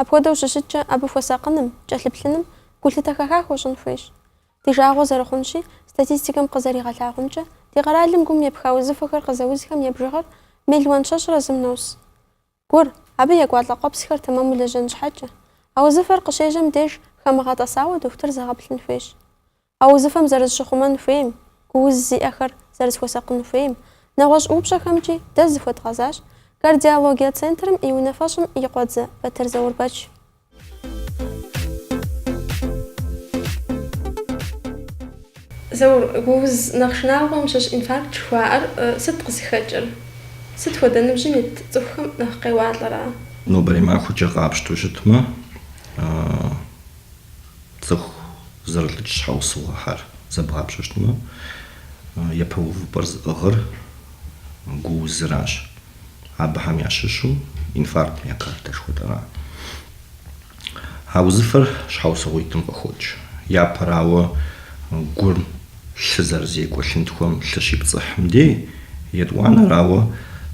Апхуэдэу щыщыткӏэ, абы хуэсакъыным, кӏэлъыплъыным, гулъытэ хэха хуэщӏын хуейщ. Ди жагъуэ зэрыхъунщи, статистикэм къызэригъэлъагъумкӏэ, ди къэралым гум епха узыфэхэр къызэузхэм я бжыгъэр мелуан щэщӏрэ зым нос. Гур, абы екӏуалӏэ къуэпсхэр тэмэму лэжьэн щхьэкӏэ. А узыфэр къыщежьэм деж хамыгъэтӏэсауэ дохутыр зэгъэплъын хуейщ. А узыфэм зэрызыщыхъумэн хуейм, гууз зиӏэхэр зэрызыхуэсакъын хуейм, нэгъуэщӏ упщӏэхэмкӏи дэ зыхуэдгъэзащ Кардиологие центрым и унафэщӏым и къуэдзэ Батыр Заурбэч. Заур, гууз нэхъ шынагъуэм щыщ инфаркт жыхуаӏэр сыт къызыхэкӏыр? Сыт хуэдэ ныбжьым ит цӏыхухэм нэхъ къеуалӏэрэ? Нобэрей махуэкӏэ къапщтэу щытмэ, цӏыху зэрылӏыкӏ щхьэусыгъуэхэр зэбгъапщэу щытмэ, япэ увыпӏэр зыӏыгъыр гуузыращ. Абыхэм ящыщу инфаркт миокарда жыхуэтӏэра. А узыфэр щхьэусыгъуитӏым къыхокӏ. Япэрауэ, гур лъы зэрызекӏуэ лъынтхуэм лъы щипцӏыхьым дей, етӏуанэрауэ,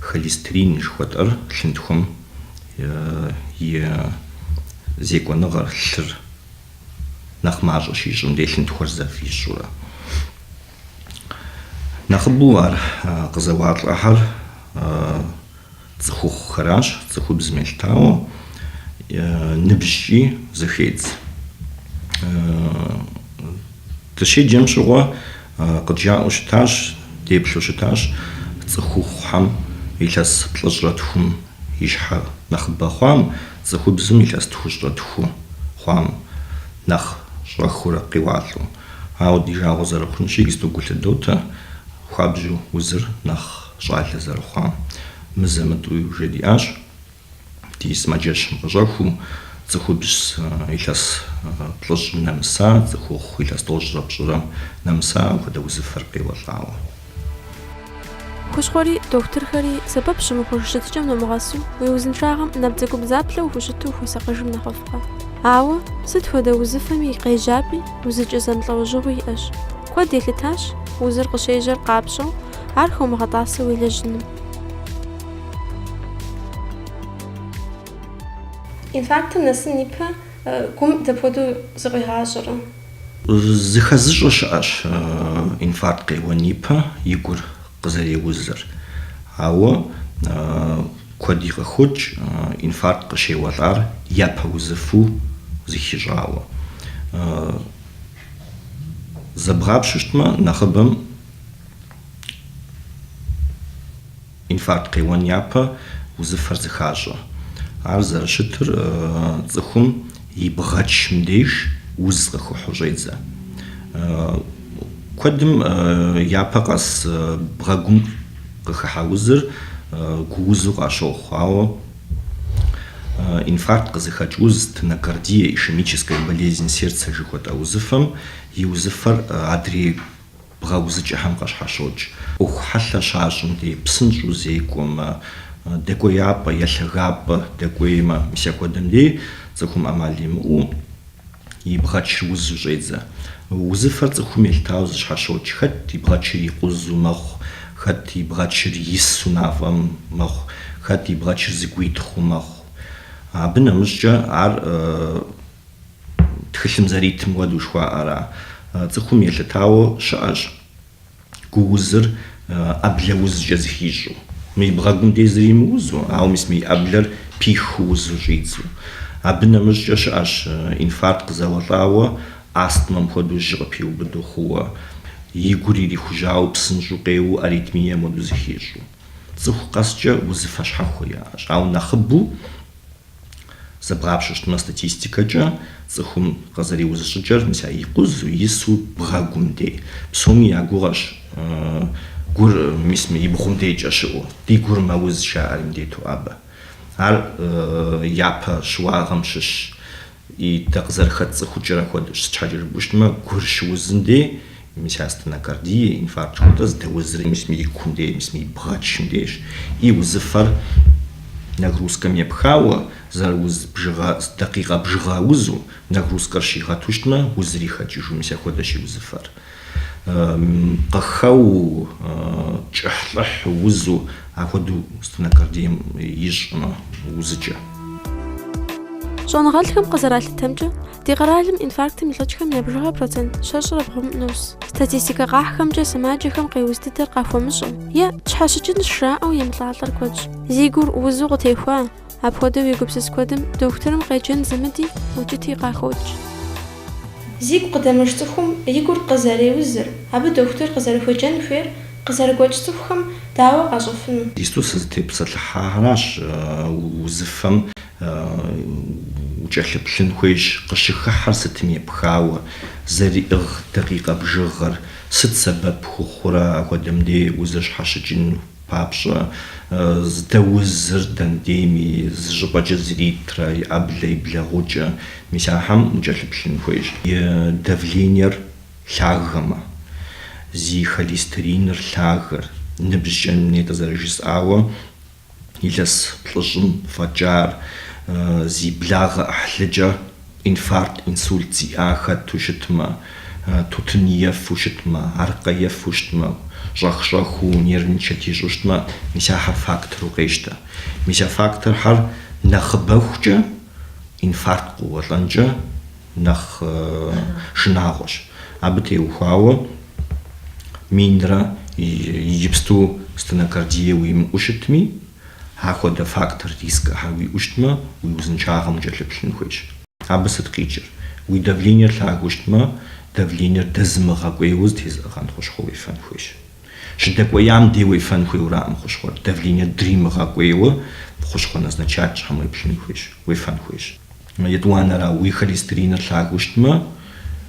холестерин жыхуэтӏэр лъынтхуэм и зекӏуэныгъэр, лъыр нэхъ мащӏэ щищӏым дей лъынтхуэр зэфищӏурэ. Нэхъыбэу ар къызэуалӏэхьэр цӏыхухъухэращ, цӏыхубзым елъытауэ ныбжькӏи зэхедз. Дыщеджэм щыгъуэ къыджаӏэу щытащ, деплъу щытащ цӏыхухъухьэм илъэс плӏыщӏрэ тхум ищхьэ нэхъыбэ хъуам, цӏыхубзым илъэс тхущӏрэ тху хъуам нэхъ щӏэхыурэ къеуалӏэу. Ауэ ди жагъуэ зэрыхъунщи, иджыпсту гу лъыдотэ, хуабжьу узыр нэхъ щӏалэ зэрыхъуам. Мызэ-мытӏуи уже диӏащ, ди сымаджэщым къыщӏэхуу, цӏыхубз илъэс плӏыщӏым нэмыса, цӏыхухъу илъэс тӏощӏрэ пщӏырэм нэмыса апхуэдэ узыфэр къеуэлӏауэ. Хущхъуэри, дохутырхэри, сэбэп щымыхъуж щытыкӏэм номыгъэсу, уи узыншагъэм набдзэгубдзаплъэу ухущыту ухуэсакъыжым нэхъыфӏкъэ? Ауэ, сыт хуэдэ узыфэми къежьапӏи, узыкӏэ зэмылӏэужьыгъуи иӏэщ. Куэд елъытащ, узыр къыщежьэр къапщӏэу, ар хыумыгъэтӏасэу уелэжьыным. Инфарктым нэсын ипэ гум дапхуэдэу зыкъуигъащӏэрэ? Зыхэзыщӏэ щыӏэщ инфаркт къеуэн ипэ и гур къызэреузыр. Ауэ куэди къыхокӏ инфаркт къыщеуэлӏар япэ узыфэу зыхищӏауэ. Зэбгъапщэу щытмэ, нэхъыбэм. Инфаркт къеуэн япэ узыфэр зыхащӏэ. Ар зэрыщытыр цӏыхум и бгъэчым деж уз къыхыхьу щӏедзэ. Куэдым япэ къэс бгъэгум къыхыхьа узыр гуузу къащохъу, ауэ инфаркт къызыхэкӏ уз, стенокардия, ишемическая болезнь сердца жыхуэтӏэ узыфэм и узыфэр адрей. бгъэузыкӏэхэм къыщхьэщокӏ. ӏуэху хьэлъэ щащӏым дей псынщӏэу зекӏуэмэ, дэкӏуеяпӏэ е лъагапӏэ дэкӏуеймэ, мис апхуэдэм дей цӏыхум ӏэмал имыӏэу и бгъэчыр узу щӏедзэ. Узыфэр цӏыхум елъытауэ зыщхьэщокӏ, хэт и бгъэчыр икъузу мэхъу, хэт и бгъэчыр ису мафӏэм мэхъу, хэт и бгъэчыр зыгуитхъыу мэхъу. Абы нэмыщӏкӏэ ар. Тхылъым зэритым хуэдэу жыхуаӏэра? Цӏыхум елъытауэ щыӏэщ гуузыр ӏэблэ узкӏэ зыхищӏу. Мы и бгъэгум дей зыри мыузу, ауэ мис мы и ӏэблэр пиху узу щӏидзу. Абы нэмыщӏкӏэ щыӏэщ инфаркт къызэуэлӏауэ, астмэм хуэдэу жьы къыпиубыду хъууэ, и гур ирихужьауэ псынщӏу къеуэу аритмием хуэдэу зыхищӏу. Цӏыху къэскӏэ узыфэ щхьэхуэ яӏэщ, ауэ нэхъыбэу. Зэбгъапщэу щытмэ, статистикэкӏэ цӏыхум къызэреуз щӏыкӏэр мис а икъузу, ису, бгъэгум дей псоми я гугъэщ, гур мис мы и бгъум дейкӏэ щыӏэу, ди гур мэуз жаӏэри мыдету абы. Ар япэ щыуагъэм щыщщ. И дэ къызэрыхэтцӏыхукӏыр апхуэдэщ, сыт щхьэкӏэ жыпӏу щытмэ, гур щыузым дей, мис а стенокардие, инфаркт жыхуэтӏэ, здэузри мис мы и кум дей, мис мы и бгъэчым дейщ. И узыфэр нагрузкэм епхауэ, зэрыуз бжыгъэ, дакъикъэ бжыгъэ узу, нагрузкэр щигъэту щытмэ, узри хэкӏыжу, мис апхуэдэщ и узыфэр. Къыхэу, кӏыхьлӏыхь, узу, апхуэдэу стенокардием ищӏмэ, узыкӏэ. Щӏэныгъэлӏхэм къызэралъытэмкӏэ, ди къэралым инфарктым илӏыкӏхэм я бжыгъэр процент щэщӏрэ бгъум нус. Статистикэ къахьхэмкӏэ сымаджэхэм къеуз дыдэр къахуэмыщӏэу е тщхьэщыкӏынщ жаӏэу емылӏалӏэр куэдщ. Зи гур узу къытехуа, Апхуэдэу егупсыс куэдым дохутырым къеджэн зымыди, укӏыти къахокӏ. Зигу къыдэмыж цӏыхум и гур къызэреузыр, абы дохутыр къызэрыхуеджэн хуейр къызэрыгуэкӏ цӏыхухэм дауэ къащӏэфыну? Иджыпсту сызытепсэлъыхьахэращ узыфэм укӏэлъыплъын хуейщ, къыщыхыхьэр сытым епхауэ, зэриӏыгъ дакъикъэ бжыгъэр сыт сэбэп хухъурэ апхуэдэм де узыр щхьэщыкӏыну? Папщӏэ, здэузыр дэнэ дейми зы щӏыпӏэкӏэ зритрэ, и ӏэблэ, и блэгъукӏэ, мис ахьэм укӏэлъыплъын хуейщ. И давлениер лъагэмэ, зи холестериныр лъагэр, ныбжькӏэ нетӏэ зэрыжысӏауэ, илъэс плӏыщӏым фӏэкӏар, зи благъэ ӏыхьлыкӏэ Инфаркт, инсульт зиӏа хэту щытмэ, тутын ефу щытмэ, аркъэ ефу щытмэ, щӏэх-щӏэхыу нервничать ищӏу щытмэ, мис ахэр фактору къещтэ. Мис а факторхэр нэхъыбэхукӏэ инфаркт къыуэлӏэнкӏэ нэхъ шынагъуэщ. Абы теухуауэ минрэ иджыпсту стенокардие уимыӏэу щытми, Ахуэдэ фактор рискхэр уиӏэу щытмэ, уи узыншагъэм укӏэлъыплъын хуейщ. Абы сыт къикӏыр? Уи давлениер лъагэу щытмэ, давлениер дэзымыгъэкӏуейуэ зытезыӏыгъэн хущхъуэ уефэн хуейщ. Щыдэкӏуеям дей уефэн хуейуэраӏым хущхъуэр, давлениер дримыгъэкӏуейуэ хущхъуэ назначать ящӏхэм уеплъын хуейщ, уефэн хуейщ. Етӏуанэрауэ, уи холестериныр лъагэу щытмэ,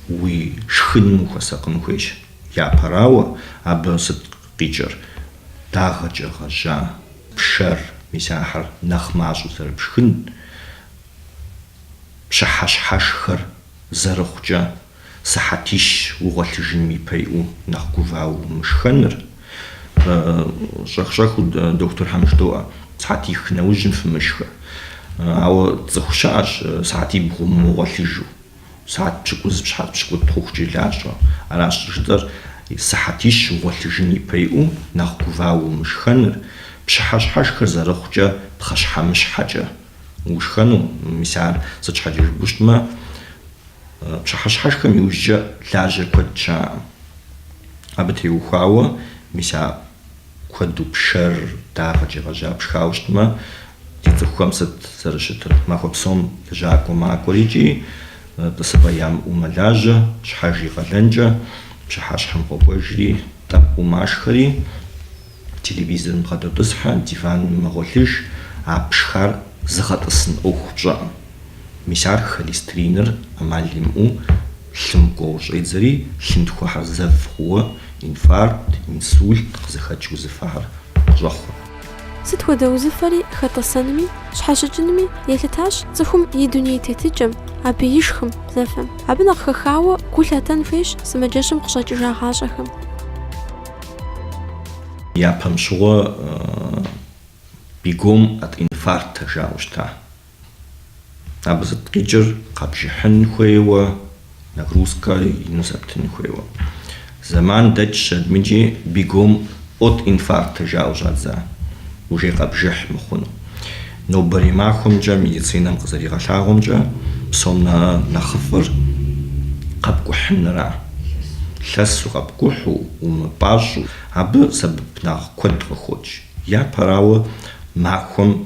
уи шхыным ухуэсакъын хуейщ. Япэрауэ, абы сыт Къикӏыр дагъэкӏэ гъэжьа пшэр, мис ахэр нэхъ мащӏэу зэрыпшхын, пщыхьэщхьэшхэр зэрыхъукӏэ сыхьэтищ угъуэлъыжыным ипэ иӏэу нэхъ гувауэ умышхэныр. Щӏэх-щӏэхыу дохутырхэм жыдоӏэ, сыхьэтих нэужьым фымышхэ. Ауэ цӏыху щыӏэщ сыхьэтибгъум мыгъуэлъыжу. Сыхьэт пщыкӏуз, сыхьэт пщыкӏутӏ хъухукӏи лажьэ. Аращ жытӏэр, сыхьэтищ угъуэлъыжын ипэ иӏэу нэхъ гувауэ умышхэныр, пщыхьэщхьэшхэр зэрыхъукӏэ пхъэщхьэмыщхьэкӏэ ушхэну, мис ар сыт щхьэкӏэ жыпӏэу щытмэ, пщыхьэщхьэшхэм иужькӏэ лажьэ куэд щыӏэӏым. Абы теухуауэ, мис а Куэду пшэр дагъэкӏэ гъэжьа пшхауэ щытмэ, ди цӏыхухэм сыт зэрыщытыр? Махуэ псом лэжьакӏуэ макӏуэр икӏи тӏысыпӏэ ямыӏэу мэлажьэ, щхьэж и къалэнкӏэ пщыхьэщхьэм къокӏуэжри, тӏэпкъыу машхэри, телевизорым бгъэдотӏысхьэ, диваным мэгъуэлъыж, а пшхар зыгъэтӏысын ӏуэху пщӏэкъым. Мис ар холестериныр ӏэмал имыӏэу лъым кӏуэу щӏедзэри, лъынтхуэхэр зэв хъууэ инфаркт, инсульт къызыхэкӏ узыфэхэр къыщӏэхъур. Сыт хуэдэ узыфэри хэтӏысэнми, щхьэщыкӏынми елъытащ цӏыхум и дуней тетыкӏэм, абы ишхым, зэфэм. Абы нэхъ хэхауэ гу лъытэн хуейщ сымаджэщым къыщӏэкӏыжагъащӏэхэм. Япэм щыгъуэ бегом от инфаркта жаӏэу щыта. Абы сыт къикӏыр? Къэбжыхьын хуейуэ, нагрузкэ ину зэптын хуейуэ. Зэман дэкӏщ адмыкӏи бегом от инфаркта жаӏэу щӏадза, уже къэбжыхь мыхъуну. Нобэрей махуэмкӏэ медицинэм къызэригъэлъагъуэмкӏэ, псом нэхъыфӏыр къэпкӏухьынра. Лъэсу къэпкӏухьу, умыпӏащӏэу, абы сэбэп нэхъ куэд къыхокӏ. Япэрауэ, махуэм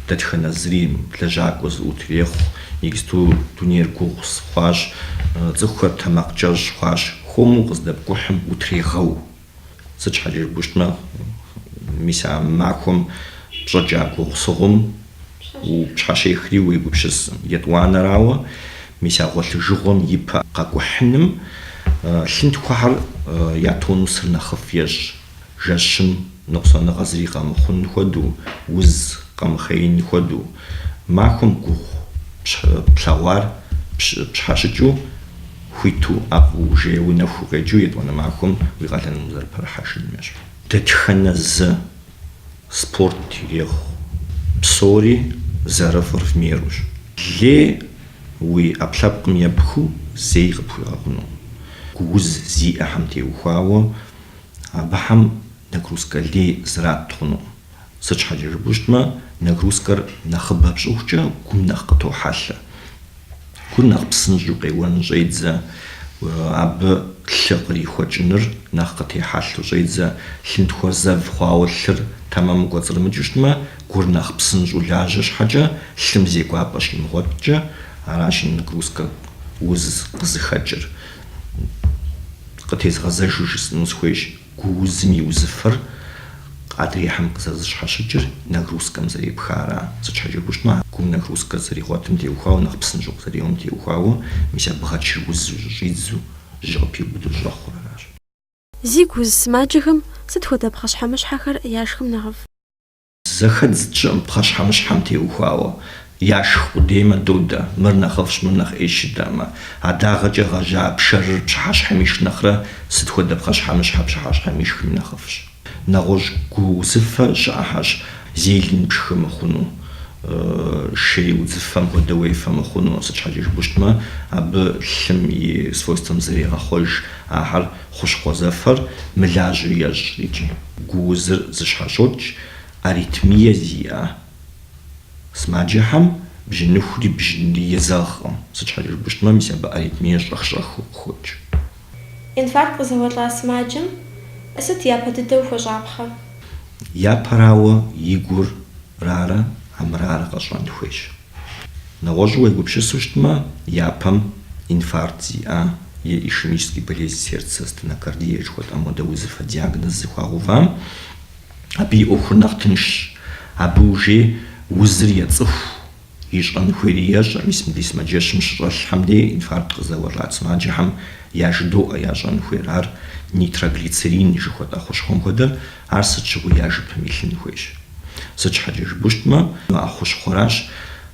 Дэтхэнэ зыри лэжьакӏуэ зыӏут ирехъу, иджысту дунейр гугъусыгъу хъуащ, цӏыхухэр тэмакъкӏэщӏ хъуащ, хуэму къыздэпкӏухьым утрегъэу. Сыт щхьэкӏэ жыпӏэу щытмэ, мис а махуэм пщӏэкӏа гугъусыгъум упщхьэщехри уегупсыс, етӏуанэрауэ, мис а гъуэлъыжыгъуэм и пэ къэкӏухьыным лъынтхуэхэр я тонусыр нэхъыфӏ ещӏ, Жэщым ныкъусаныгъэ зыри къэмыхъун хуэдэу, уз къэмыхъеин хуэдэу, махуэм гугъу плъэгъуар пщхьэщыкӏыу, хуиту ӏэфӏу ужейуэ нэху укъекӏыу етӏуанэ махуэм уи къалэным узэрыпэрыхьэжын ещӏ. Дэтхэнэ зы спорт ирехъу, псори зэрыфӏыр в мерущ. Лей уи ӏэпкълъэпкъым епхыу зэи къыпхуигъэгъунукъым. Гууз зиӏэхэм теухуауэ Абыхэм нагрузкэ лей зэрат хъунукъым. Сыт щхьэкӏэ жыпӏэу щытмэ, нагрузкэр нэхъыбэ пщӏыхукӏэ гум нэхъ къытохьэлъэ. Гур нэхъ псынщӏэу къеуэн щӏедзэ, абы лъы кърихуэкӏыныр нэхъ къытехьэлъэу щӏедзэ. Лъынтхуэр зэв хъуауэ лъыр тэмэму кӏуэцӏрымыкӏыу щытмэ, гур нэхъ псынщӏэу лажьэ щхьэкӏэ, лъым зекӏуапӏэ щимыгъуэткӏэ, аращ нагрузкэ уз къызыхэкӏыр. Къытезгъэзэжу жысӏэну схуейщ, гуузым и узыфэр адрейхэм къызэрыщхьэщыкӏыр, нагрузкэм зэрепхар. Сыт щхьэкӏэ жыпӏэу щытмэ, а гум нагрузкэр зэригъуэтым теухуауэ, нэхъ псынщӏэу къызэреуэм теухуауэ, мис а бгъэкӏэр узу щыщӏидзэу, жьы къыпиубыду щӏэхъур аращ. Зигу уз сымаджэхэм сыт хуэдэ пхъэщхьэмыщхьэхэр яшхым нэхъыфӏ? Зэхэдз тщӏыӏым пхъэщхьэмыщхьэм теухуауэ, яшх къудеймэ додэ, мыр нэхъыфӏщ, мыр нэхъ ӏейщ жытӏэӏым. А дагъэкӏэ гъэжьа пшэрыр пщыхьэщхьэм ишх нэхърэ сыт хуэдэ пхъэщхьэмыщхьэ пщыхьэщхьэм ишхми нэхъыфӏщ. Нэгъуэщӏ гу узыфэ щыӏэхэщ, зелень пшхы мыхъуну, шей удзыфэм хуэдэ уефэ мыхъуну, сыт щхьэкӏэ жыпӏэу щытмэ, абы лъым и свойствэм зрегъэхъуэж ахэр. Хущхъуэ зэфэр мылажьэу ещӏ икӏи гуузыр зыщхьэщокӏ аритмие зиӏэ сымаджэхэм, бжьыныхури бжьынри езэгъкъым, сыт щхьэкӏэ жыпӏэу щытмэ, мис абы аритмие щӏэх-щӏэхыу къыхокӏ. Инфаркт къызэуэлӏа сымаджэм сыт япэ дыдэу хуэщӏапхъэ? Япэрауэ, и гур рарэ, амырарэ къэщӏэн хуейщ. Нэгъуэщӏу уегупсысу щытмэ, япэм инфаркт зиӏа е ишемический болезнь сердца, стенокардия жыхуэтӏэм хуэдэ узыфэ диагноз зыхуагъэувам, абы и ӏуэхур нэхъ тыншщ. Абы уже и узыр ецӏыху, ищӏэн хуейри ещӏэ, мис мыбдей сымаджэщым щыщӏэлъхэм дей инфаркт къызэуэлӏа сымаджэхэм яжыдоӏэ ящӏэн хуейр. Ар нитроглицерин жыхуэтӏэ хущхъуэм хуэдэ Ар сыт щыгъуи я жыпым илъын хуейщ. Сыт щхьэкӏэ жыпӏэу щытмэ, а хущхъуэращ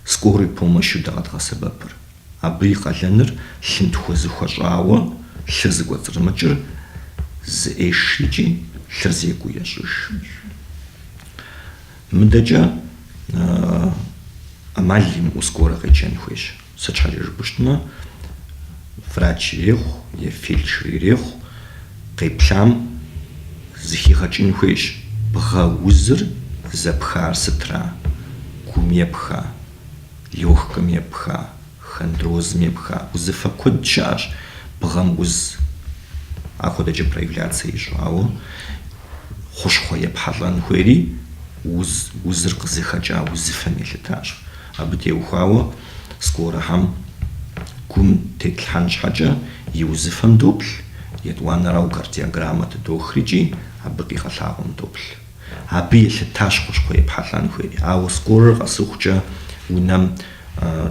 скорой помощу дэ къэдгъэсэбэпыр. Абы и къалэныр лъынтхуэ зыхуэщӏауэ лъыр зыкӏуэцӏрымыкӏыр зэӏех икӏи лъыр зекӏуу ещӏыж. Мыдэкӏэ ӏэмал имыӏэу скорэ къеджэн хуейщ. Сыт щхьэкӏэ жыпӏэу щытмэ, врач ирехъу е фельдшер ирехъу, къеплъам зыхигъэкӏын хуейщ, бгъэ узыр зэпхар сытра, гум епха, лёгкэм епха, хондрозым епха, узыфэ куэд щыӏэщ бгъэм уз ахуэдэкӏэ проявляцэ ищӏу, ауэ хущхъуэ епхьэлӏэн хуейри уз, узыр къызыхэкӏа узыфэм елъытащ. Абы теухуауэ скорэхэм гум тетлъхьэн щхьэкӏэ и узыфэм доплъ, етӏуанэрау кардиограммэ тыдох икӏи абы къигъэлъагъуэм доплъ. Абы елъытащ хущхъуэ епхьэлӏэн хуейри, ауэ скорэр къэсыхукӏэ унэм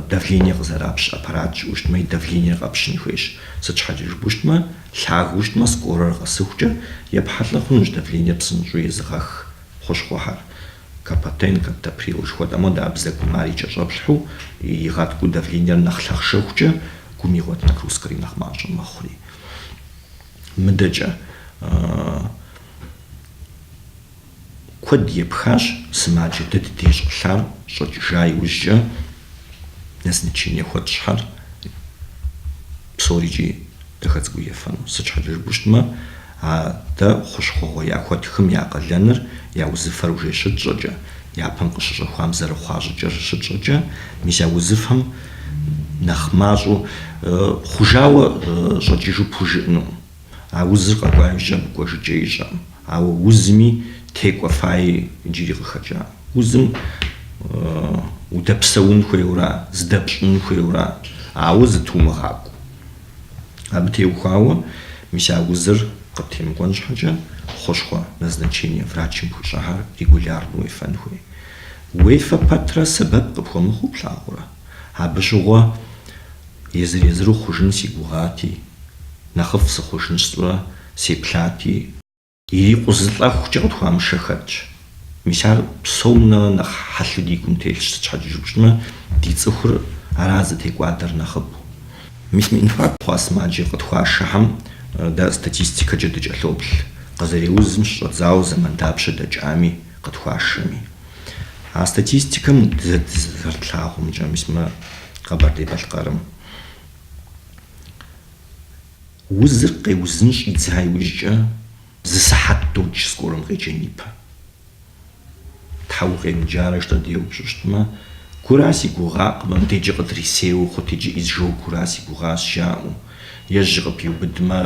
давление къызэрапщ аппарат щыӏэу щытмэ, и давлениер къэпщын хуейщ. Сыт щхьэкӏэ жыпӏэу щытмэ, лъагэу щытмэ, скорэр къэсыхукӏэ епхьэлӏэ хъунущ давлениер псынщӏэу езыгъэх хущхъуэхэр. Капотен, каптоприл жыхуэтӏэм хуэдэ а бзэгум ар и кӏэщӏэплъхьэу, игъэткӏуу давлениер нэхъ лъахъшэхукӏэ, гум игъуэт нагрузкэри нэхъ мащӏэ мэхъури. Мыдэкӏэ куэд епхащ сымаджэ дэ ди дей щӏэлъар щӏэкӏыжа иужькӏэ, Назначение хуэтщӏхэр псорикӏи дахэ цӏыкӏуу ефэну. Сыт щхьэкӏэ жыпӏэу щытмэ, дэ хущхъуэгъуэ яхуэттхым я къалэныр, я узыфэр уже щытщӏэкӏэ, япэм къыщыщӏэхуам зэрыхъуа щӏыкӏэр щытщӏэкӏэ, мис а узыфэм нэхъ мащӏэу хъужауэ щӏэкӏыжу пхужыӏэнукъым. А узыр къэкӏуа иужькӏэ абы кӏуэжыкӏэ ищӏэкъым. Ауэ узми текӏуэфаи иджыри къыхэкӏакъым. Узым удэпсэун хуейуэра, зыдэпщӏын хуейуэра, ауэ зытумыгъакӏуэу. Абы теухуауэ, мис а узыр къыттемыкӏуэн щхьэкӏэ, хущхъуэ назначение врачым пхуищӏахэр регулярно уефэн хуей. Уефэ пэтрэ сэбэп къыпхуэмыхъуу плъагъурэ? Абы щыгъуэ. Езыр-езыру хъужын си гугъати, нэхъыфӏ сыхъужын сщӏурэ сеплъати. Ирикъузылӏэхукӏэ къытхуамышэ хэтщ. Мис ар псом нэхърэ нэхъ хьэлъу ди гум телъщ, сыт щхьэкӏэ жыпщӏмэ, ди цӏыхур аращ зытекӏуадэр нэхъыбэу. Мис мы инфаркт хъуа сымаджэ къытхуашэхэм дэ статистикэкӏэ дыкӏэлъоплъ, къызэреузым щыщӏэдзауэ зэман дапщэ дэкӏами, къытхуашэми. А статистикэм дэ дызэрытлъагъумкӏэ, мис мы Къэбэрдей-Балъкъэрым узыр къеузын щӏидза иужькӏэ зы сыхьэт докӏ скорэм къеджэн ипэ. Щхьэ укъемыджарэ жытӏэу деупщӏу щытмэ, гура си гугъакъым, мыбдежкӏэ къыдрисейуэ хъут икӏи изжогэра си гугъащ жаӏэу. Е жьы къыпиубыдмэ,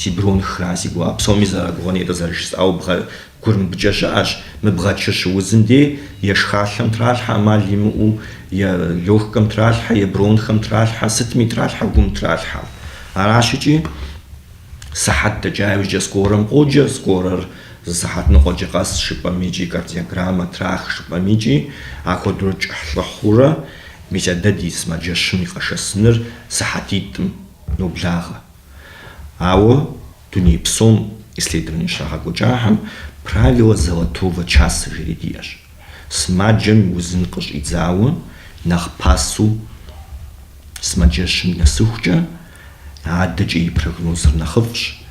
си бронхэра си гугъа, псоми зэрагугъэни, атӏэ зэрыжысӏауэ бгъэ Гур мыбыкӏэ щыӏэщ мы бгъэкӏэ щыузым де, е шхалъэм тралъхьэ ӏэмал имыӏэу, е лёгкэм тралъхьэ, е бронхэм тралъхьэ, сытми тралъхьэ, гум тралъхьэ. Аращ икӏи сыхьэт дэкӏа иужькӏэ скорэм къоджэ, скорэр зы сыхьэт ныкъуэкӏэ къэс жыпӏэм икӏи кардиограммэ трах жыпӏэм икӏи апхуэдэурэ кӏыхьлӏыхь хъурэ мис а дэ ди сымаджэщым и къэшэсыныр сыхьэтитӏым ноблагъэ. Ауэ дуней псом исследование щагъэкӏуэкӏахэм Правила золотого часа жери диӏэщ. Сымаджэм и узым къыщӏидзауэ нэхъ пасэу сымаджэщым нэсыхукӏэ, адэкӏэ и прогнозыр нэхъыфӏщ.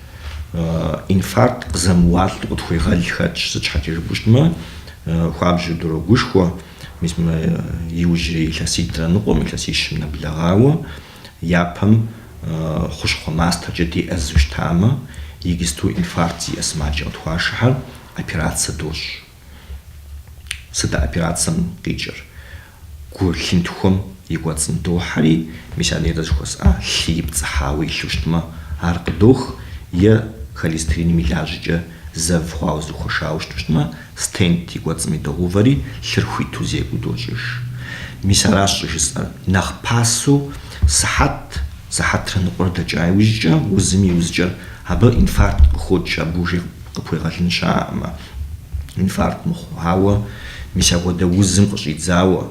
Инфаркт къызэмыуалӏэу къытхуегъэл хэтщ, сыт щхьэкӏэ жыпӏэу щытмэ, хуабжьу дрогушхуэ, мис мы иужьрей илъэситӏрэ ныкъуэм, илъэсищым нэблэгъауэ. Япэм хущхъуэ мастэркӏэ деӏэзэу щытамэ, иджыпсту инфаркт зиӏэ сымаджэ къытхуашэхьэр, операцэ дощӏ. Сыт а операцэм къикӏыр? Гу лъынтхуэм и кӏуэцӏым дохьэри, мис а нейрэ зыхуэсӏа лъы ипцӏыхьауэ илъу щытмэ, ар къыдох, е холестериным и лажьэкӏэ зэв хъуауэ зэхуэшауэ щыту щытмэ, Стент и кӏуэцӏым идогъэувэри, лъыр хуиту зекӏуу дощӏыж. Мис аращ щӏыжысӏэр. Нэхъ пасэу сыхьэт, сыхьэтрэ ныкъуэрэ дэкӏа иужькӏэ, узым и узыкӏэр абы инфаркт къыхокӏ, абы уже къыпхуегъэлын щыӏэкъым, инфаркт мыхъуу. Ауэ мис апхуэдэ узым къыщӏидзауэ,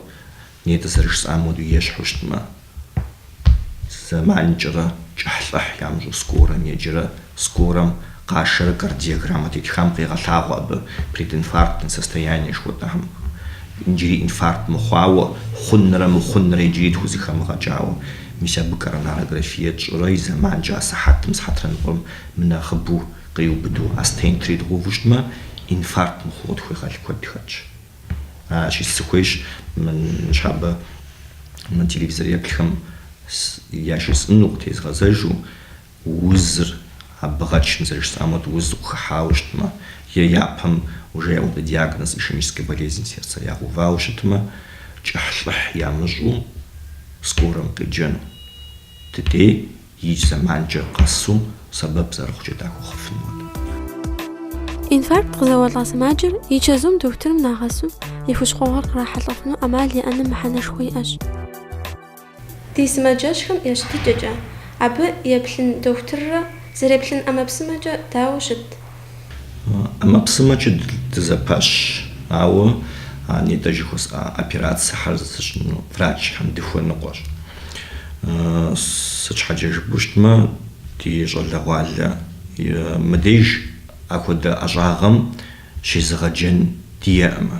Нетӏэ зэрыжысӏам хуэдэу ещхьу щытмэ, зэманкӏэрэ кӏыхьлӏыхь ямыщӏу скорэм еджэрэ, скорэм къашэрэ кардиограммэ тетхам къегъэлъагъуэ абы прединфарктное состояние жыхуэтӏэхьэм. Иджыри инфаркт мыхъуауэ хъунрэ мыхъунрэ иджыри тхузыхэмыгъэкӏауэ. Мис абы коронарографие тщӏырэ и зэманкӏэ асыхьэтым сыхьэтрэныкъуэм мынэхъыбэу къриубыдэу а стентыр идгъэуву щытмэ, инфаркт мыхъуу къытхуегъэл куэд хэтщ. Аращи сыхуейщ ныщхьэбэ мы телевизор еплъхэм яжесӏыну, къытезгъэзэжу узыр абы гъэч, мы зэрыжысӏам хуэдэу узыр къыхыхьауэ щытмэ, е япэм уже яӏэу диагноз ишемическэ болезнь сердца ягъэувауэ щытмэ, кӏыхьлӏыхь ямыщӏу скорэм къеджэну. Дыдей. Икӏ зэманкӏэ къэсу сэбэп зэрыхъукӏэ дахуэхъуфын хуэдэу. Инфаркт къызэуэлӏа сымаджэр и чэзум дохутырым нагъэсу и хущхъуэгъуэр кърахьэлӏэфыну ӏэмал иӏэным мыхьэнэшхуэ иӏэщ. Ди сымаджэщхэм я щытыкӏэкӏэ, абы еплъын дохутыррэ зэреплъын ӏэмэпсымэкӏэ дауэ щыт? ӏэмэпсымэкӏэ дызэпэщ, ауэ а нетӏэ жыхуэсӏа операцэхэр зыщӏыну врачхэм дыхуэныкъуэщ. Сыт щхьэкӏэ жыпӏэу щытмэ, ди щӏалэгъуалэ мыбдеж апхуэдэ ӏэщӏагъэм щезыгъэджэн диӏэӏым.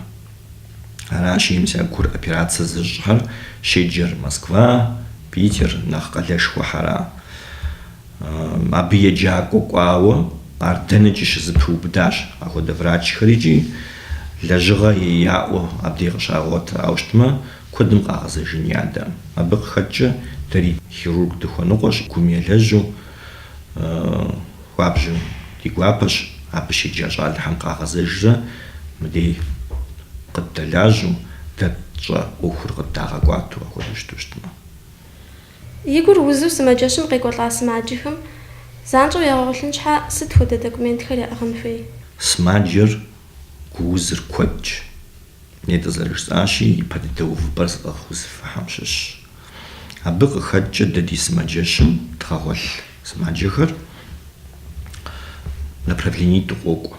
Аращи, мис а гур операцэ зыщӏхэр щеджэр Москва, Питер, нэхъ къалэшхуэхьэра. Абы еджакӏуэ кӏуауэ ар дэнэкӏи щызэпыубыдащ, ахуэдэ врачхэри икӏи лэжьыгъэ яӏэу абдей къыщагъуэтауэ щытмэ, куэдым къагъэзэжыӏым адэ. Абы къыхэкӏкӏэ дэри хирург дыхуэныкъуэщ, гум елэжьу, хуабжьу ди гуапэщ, абы щеджа щӏалэхэм къагъэзэжрэ мыдей къыддэлажьэу, дэ тщӏэ ӏуэхур къыддагъэкӏуату, апхуэдэу щыту щытмэ. И гур узу сымаджэщым къекӏуэлӏа сымаджэхэм занщӏэу ягъэгъуэлъын щхьэ сыт хуэдэ документхэр яӏыгъын хуей? Сымаджэр гу узыр куэдщ. Нетӏэ зэрыжысӏащи, ипэ дыдэ увыпӏэр зыӏыгъ узыфэхьэм щыщщ. Абы къыхэкӏкӏэ дэ ди сымаджэщым дгъэгъуэлъ сымаджэхэр направленитӏу къокӏуэ.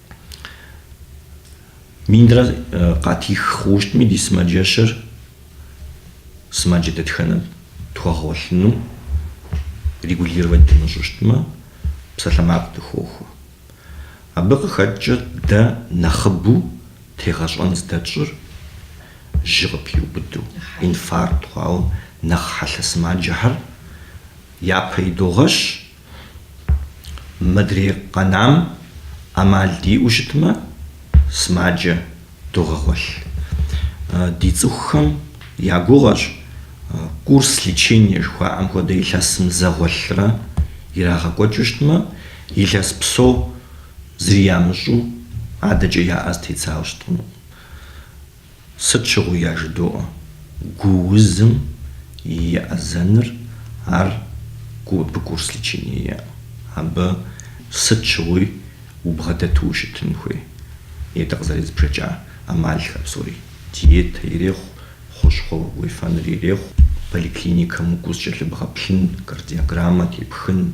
Минрэ къатих хъууэ щытми ди сымаджэщыр сымаджэ дэтхэнэр тхуэгъэгъуэлъыну регулировать дымыщӏу щытмэ, псалъэмакъ дыхохуэ. Абы къыхэкӏкӏэ дэ нэхъыбэу тегъэщӏэн здэтщӏыр жьы къыпиубыду, инфаркт хъуауэ нэхъ хьэлъэ сымаджэхэр япэ идогъэщ, Мыдрей къэнам ӏэмал диӏэу щытмэ, сымаджэ догъэгъуэлъ. Ди цӏыхухэм я гугъэщ курс лечения жыхуаӏэм хуэдэ илъэсым зэ гъуэлърэ ирагъэкӏуэкӏыу щытмэ, илъэс псо зыри ямыщӏу адэкӏэ я ӏэ зэтедзауэ щыт хъуну. Сыт щыгъуи яжыдоӏэ, гу узым и еӏэзэныр ар абы курс лечение, абы сыт щыгъуи убгъэдэту ущытын хуей. Етӏэ къызэрезбжэкӏа ӏэмалхэр псори, диетэ ирехъу, хущхъуэ уефэныр ирехъу, поликлиникэм укӏуу зыкӏэлъыбгъэплъын, кардиограммэ тепхын,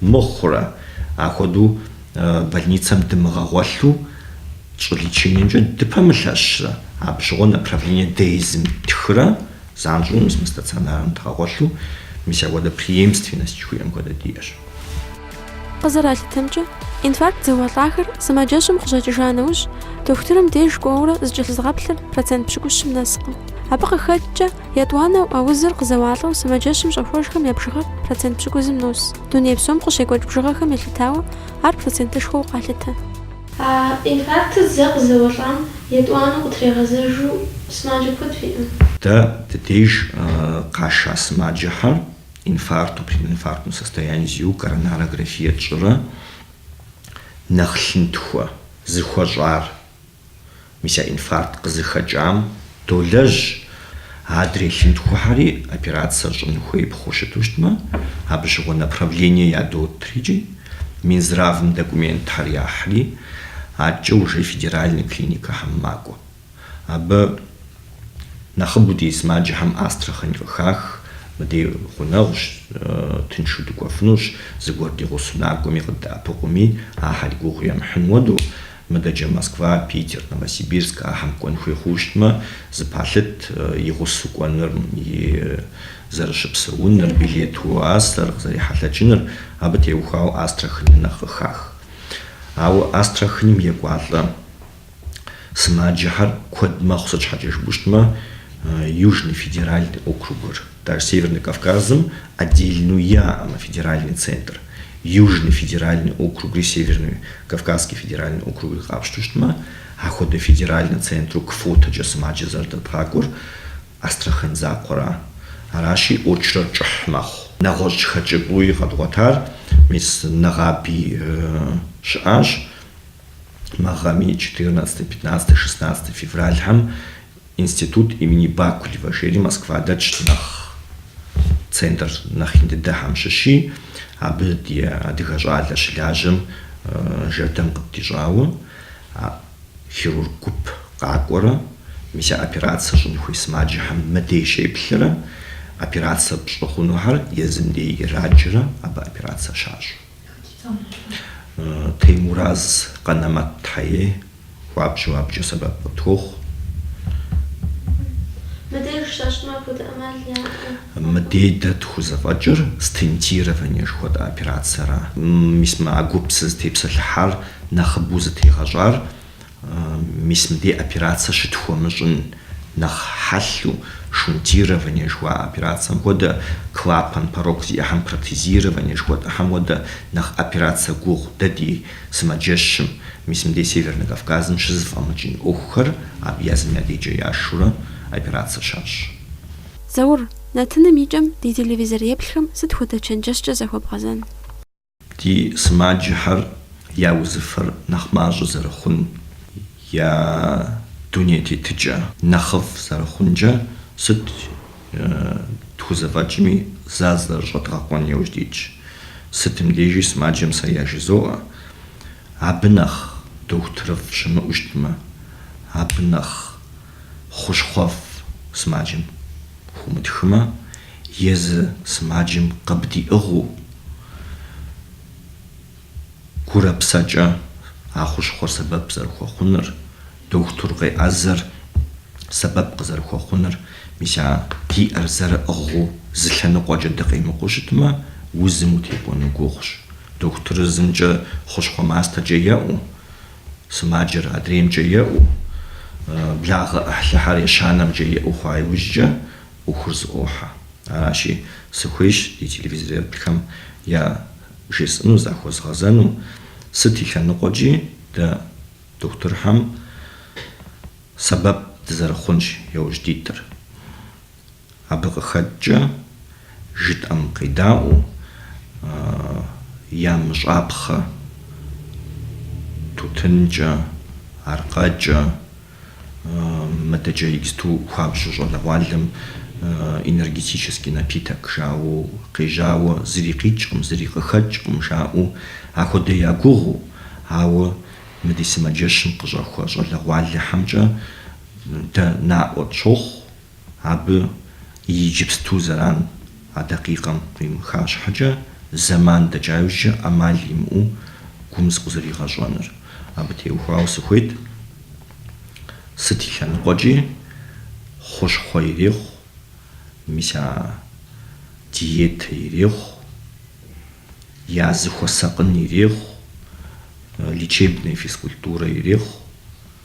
Мыхъурэ, ахуэдэу больницэм дымыгъэгъуэлъу тщӏы лечениемкӏэ дыпэмылъэщрэ? Абы щыгъуэ направление дэ езым тхрэ, занщӏэу мы стационарым дгъэгъуэлъу, мис апхуэдэ преемственность жыхуиӏэм хуэдэ диӏэщ. Къызэралъытэмкӏэ, инфаркт зэуэлӏахэр сымаджэщым къыщӏэкӏыжа нэужь, дохутырым деж кӏуэурэ зыкӏэлъызыгъэплъыр процент пщыкӏущым нэскъым. Абы къыхэкӏкӏэ, Етӏуанэу, а узыр къызэуалӏэу сымаджэщым щӏэхуэжхэм я бжыгъэр процент пщыкӏузым нос. Дуней псом къыщекӏуэкӏ бжыгъэхэм елъытауэ, ар процентышхуэу къалъытэ. А инфарктыр зэ къызэуэлӏам етӏуанэу къытрегъэзэжу сымаджэ куэд фиӏэ? Дэ ди деж къаша сымаджэхэр инфаркту, прединфарктнэ состояние зиӏэу коронарографие тщӏырэ нэхъ лъынтхуэ зэхуэщӏар Мис а инфаркт къызыхэкӏам долэжь, адрей лъынтхуэхьэри операцэ щӏын хуей хъуу щыту щытмэ, абы щыгъуэ направление ядотыр икӏи Минздравым документхэр яхьри, адэкӏэ уже федеральный клиникэхэм макӏуэ. Абы нэхъыбэу ди сымаджэхэм Астрахань къыхах, мыдей гъунэгъущ, тыншу дыкӏуэфынущ, зыгуэр ди гъусэу накӏуэми къыддэӏэпыкъуми, ахэри гугъу емыхьын хуэдэу. Мыдэкӏэ Москва, Питер, Новосибирск ахьэм кӏуэн хуей хъуу щытмэ, зыпалъыт и гъусэу кӏуэныр, и зэрыщыпсэуныр, билет уасэр къызэрехьэлъэкӏыныр, абы теухуауэ Астраханыр нэхъ къыхах. Ауэ Астраханым екӏуалӏэ сымаджэхэр куэд мэхъу, сыт щхьэкӏэ жыпӏэу щытмэ, Южный федеральный округыр. Даже Северный Кавказым отдельнэу яӏэ мы федеральный центр, Южный федеральный округри Северный Кавказский федеральный округри къапщтэу щытмэ, а хуэдэ федеральнэ центру квотэкӏэ сымаджэ зэрыдэдгъакӏуэр Астрахань закъуэра? Аращи, очрэр кӏыхь мэхъу. Нэгъуэщӏ хэкӏыпӏэуи къэдгъуэтар мис нэгъаби щыӏащ. Мы гъэми, четырнадцатэ, пятнадцатэ, шестнадцатэ февральхэм Институт имени Бакулева жери Москва дэтщ нэхъ центр нэхъ ин дыдэхэм щыщи, абы ди адыгэ щӏалэ щылажьэм жэрдэм къыддищӏауэ, а хирург гуп къакӏуэрэ, мис а операцэ щӏын хуей сымаджэхэм мыдей щеплърэ, операцэ пщӏы хъунухэр езым дей ираджэрэ абы операцэ щащӏу. Теймураз Къэнэмэтхьэ ей хуабжьу абыкӏэ сэбэп къытохъу. Мыдеж щэщӏмэ, апхуэдэ ӏэмал яӏэу? Мыдей дэ тхузэфӏэкӏыр стентирование жыхуэтӏэ операцэра? Мис мы а гуп сызытепсэлъыхьар нэхъыбэу зытегъэщӏар? Мис мыбдей операцэ щытхуэмыщӏын нэхъ хьэлъэу шунтирование жыхуа операцэм хуэдэ, клапан порок зиӏэхьэм протезирование жыхуэтӏэхьэм хуэдэ нэхъ операцэ гугъу дэ ди сымаджэщым, мис мыбдей Севернэ Кавказым щызэфӏэмыкӏын ӏуэхухэр абы езым я дежкӏэ яшурэ операцэ щащӏ. Заур, нэтыным и кӏэм ди телевизореплъхэм сыт хуэдэ чэнджэщкӏэ захуэбгъэзэн? Ди сымаджэхэр я узыфэр нэхъ мащӏэ зэрыхъун, я дуней тетыкӏэ нэхъыфӏ зэрыхъункӏэ сыт тхузэфӏэкӏми зазэрыщӏэдгъэкъуэн иужь дитщ. Сытым дежи сымаджэм сэ яжызоӏэ, абы нэхъ дохутырыфӏ щымыӏу щытмэ, абы нэхъ. хъущхъуэфӏ сымаджэм хуумытхмэ, езы сымаджэм къыбдиӏыгъыу гурэ псэкӏэ а хъущхъуэр сэбэп зэрыхуэхъуныр, дохутыр къеӏэзэр сэбэп къызэрыхуэхъуныр, мис а диӏэр зэрыӏыгъыу зы лъэныкъуэкӏэ дыкъемыкъуу щытмэ, узым утекӏуэну гугъущ. Дохутырыр зымкӏэ хъущхъуэ мастэкӏэ еӏу. сымаджэр адреймкӏэ еӏуу, благъэ ӏыхьлыхьэр ещанэмкӏэ еӏуу хъуа иужькӏэ ӏуэхур зэӏохьэ. Аращи, сыхуейщ ди телевизореплъхэм я жесӏэну захуэзгъэзэну, сыт и лъэныкъуэкӏи дэ дохутырхэм сэбэп дызэрыхъунщ яужь дитыр. Абы къыхэкӏкӏэ жытӏэм къедаӏуэу ямыщӏапхъэ тутынкӏэ, аркъэкӏэ, мыдэкӏэ иджыту хуабжьу щӏалэгъуалэм энергетический напиток жаӏэу къежьауэ зыри къикӏкъым, зыри къыхэкӏкъым жаӏэу ахуэдэ ягугъыу, ауэ мы ди сымаджэщым къыщӏэхуэ щӏалэгъуалэхьэмкӏэ дэ наӏуэ тщохъу, Абы иджыпсту зэран а дакъикъэм къимыха щхьэкӏэ, зэман дэкӏа иужькӏэ ӏэмал имыӏэу гум зыкъызэригъэщӏэнур. Абы теухуауэ сыхуейт, сыт и лъэныкъуэкӏи хъущхъуэ ирехъу, мис а диетэ ирехъу, я зыхуэсакъын ирехъу, лечебная физкультурэ ирехъу.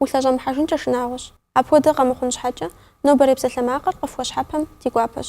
Улъэщӏэмыхьэжынкӏэ шынагъуэщ. Апхуэдэ къэмыхъун щхьэкӏэ, нобэрей псалъэмакъыр къыфхуэщхьэпэм ди гуапэщ.